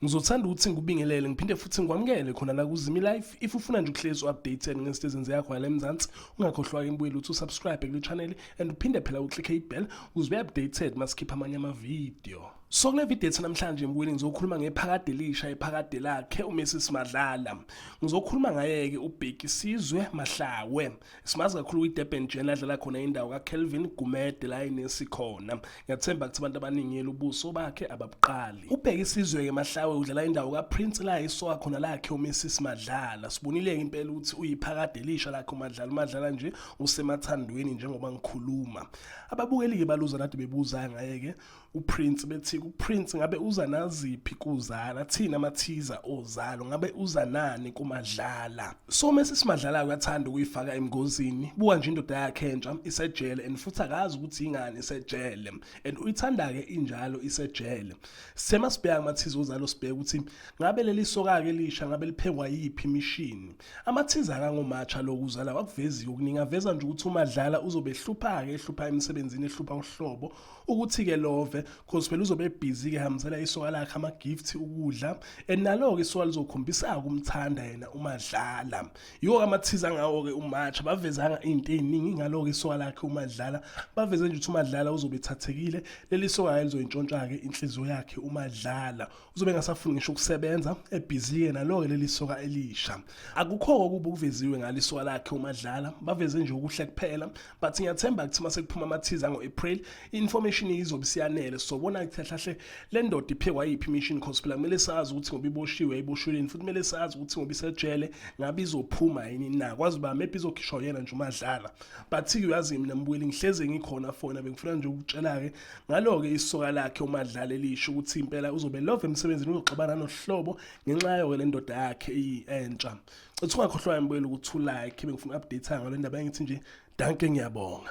Ngizothanda ukuthi ngikubingelele ngiphinde futhi ngikwamukele khona la kuZimi Life. If ufuna nje ukuhlezi u-updated ngezinto ezenziwa khona la eMzansi, ungakhohlwa-ke mbuyelo ukuthi usubscribe kule channel and uphinde phela uclick ibell ukuze ube-updated masikhipha amanye amavidiyo. So kule video ethi namhlanje mkwini ngizokhuluma ngephakade elisha iphakade lakhe uMessi Simadlala. Ngizokhuluma ngayeke uBheki Sizwe Mahlawe. Simazi kakhulu kwiDurban Gen adlala khona indawo kaKelvin Gumede la inesi khona. Ngiyathemba ukuthi abantu abaningi elubuso bakhe ababuqali. UBheki Sizwe ke Mahlawe udlala indawo kaPrince la isoka khona lakhe uMessi Simadlala. Sibonile impela ukuthi uyiphakade elisha lakhe uMadlala uMadlala nje usemathandweni njengoba ngikhuluma. Ababukeli ke baluza nadi bebuza ngayeke uPrince bethi uPrince ngabe uza naziphi kuzala thina amathiza ozalo ngabe uza nani kumadlala so mase simadlala uyathanda ukuyifaka emngozini buka nje indoda yakhe entsha isejele and futhi akazi ukuthi ingani isejele and uyithanda ke injalo isejele sema sibheka amathiza ozalo sibheka ukuthi ngabe leli soka ke lisha ngabe liphekwa yiphi imishini amathiza kangomatsha lokuzala wakuveziwe kuninga veza nje ukuthi umadlala uzobehlupha ke ehlupha emsebenzini ehlupha uhlobo ukuthi-ke love cause phela uzobe ebhizi-ke hambisela isoka lakhe ama-gift ukudla and nalo-ke isoka lizokhombisa-ke umthanda yena umadlala yiwo-ke amathiza ngawo-ke umatsha bavezanga iy'nto ey'ningi ngalo-ke isoka lakhe umadlala baveze nje ukuthi umadlala uzobe ethathekile leli soka-ke lizoyintshontsha-ke inhliziyo yakhe umadlala uzobe engasafuni ngisho ukusebenza ebhizi yena loke leli soka elisha akukho okuba okuveziwe ngalisoka lakhe umadlala baveze nje ukuhle kuphela but ngiyathemba ukuthi uma sekuphuma amathiza ngo-april i-information izobe siyanele sobona ukuthi hlahle le ndoda iphekwa yiphi imission cause phela kumele sazi ukuthi ngoba iboshiwe iboshiweleni futhi kumele sazi ukuthi ngoba isejele ngabe izophuma yini na kwazi uba maybe izokhishwa yena nje umadlala but uyazi mina mbuyeli ngihleze ngikhona fona bengifuna nje ukutshela-ke Ngalo-ke isoka lakhe uMadlala elisho ukuthi impela uzobe love emsebenzini uzoxabana nohlobo ngenxa yayo le ndoda yakhe entsha. Cethu ungakhohlwa ngempela ukuthi ulike bengifuna update ngalo ndaba engithi nje danke ngiyabonga.